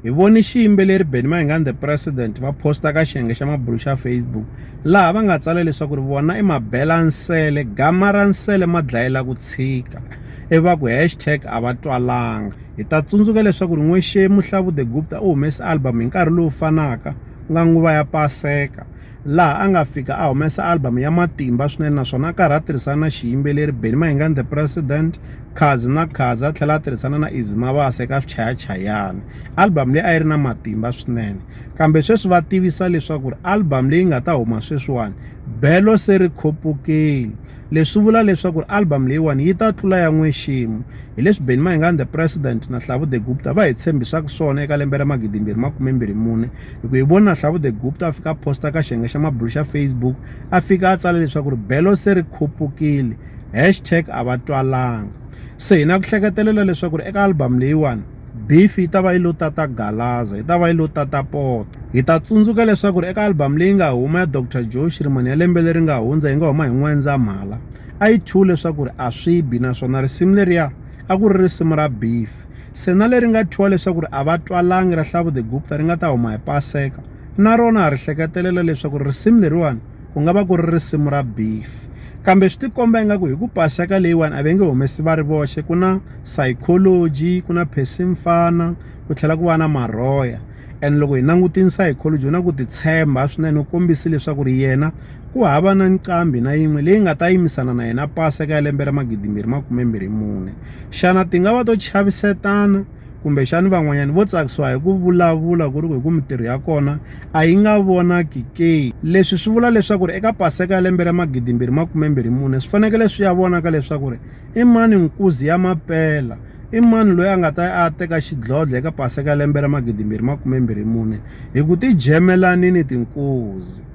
Hi vone xiyimbeleri Benny Mayengani the President va posta ka xiyenge xa mabulu xa Facebook laha va nga tsala leswaku ri vona i mabela nsele gama ra nsele ma dlayela ku tshika ivi va ku hashtag a va twalanga hi ta tsundzuka leswaku ri n'wexemu Hlavu the Gupta u humese album hi nkarhi lowu fanaka ku nga nguva ya Paseka laha a nga fika a humesa album ya matimba swinene naswona a karhi a tirhisana na xiyimbeleri Benny Mahingani the President Khazi na Khazi a tlhela a tirhisana na Easy Mabasa eka swichayachayani album leyi a yi ri na matimba swinene kambe sweswi va tivisa leswaku ri album leyi nga ta huma sweswiwani belo se ri khopukile leswi vula leswaku ri album leyiwani yi ta tlula ya n'weximo hi leswi Benny Mahingani the President na Hlavu the Gupta va hi tshembisaka swona eka lembe ra magidimbirhi makumembirhi mune hi ku hi vona hlavu the gupta a fika a posta ka xiyenge xa mabulu xa facebook a fika a tsala leswaku ri belo se ri khupukile hashtag a va twalanga se hi na ku hleketelela leswaku ri eka album leyiwani beef yi ta va yi lo tata galaza yi ta va yi lo tata poto hi ta tsundzuka leswaku ri eka album leyi nga huma ya dr joe xirimani ya lembe leri nga hundza yi nga huma hi n'wendzamhala a yi two leswaku ri a swi bi naswona risimu leriya a ku ri risimu ra beef Sena leri nga thyiwa leswaku ri Avatwalangi ra Hlabudegupta ri nga ta huma hi Paseka, na rona ha ri hleketelela leswaku risimu leriwani ku nga va ku ri risimu ra beef. Kambe swi tikomba ingaku hi ku Paseka leyiwani a va nge humesi va ri voxe, ku na Psychology, ku na Percy Mfana, ku tlhela ku va na Marhoya. And loko hi langutini Psychology u na ku titshemba swinene, u kombise leswaku ri yena, ku hava na nqambi na yin'we leyi nga ta yimisana na yena pasi eka lembe ra magidimbirhi makume mbirhi mune xana ti nga va to chavisetana kumbexani van'wanyana vo tsakisiwa hi ku vulavula ku ri ku hi ku mintirho ya kona a yi nga vonaki ke leswi swi vula leswaku ri eka paseka ya lembe ra magidimbirhi makume mbirhi mune swi fanekele swi ya vonaka leswaku ri i mani nkuzi ya mapela i mani loyi a nga ta a teka xidlodlo eka paseka ya lembe ra magidimbirhi makume mbirhi mune hi ku ti jemelanini tinkuzi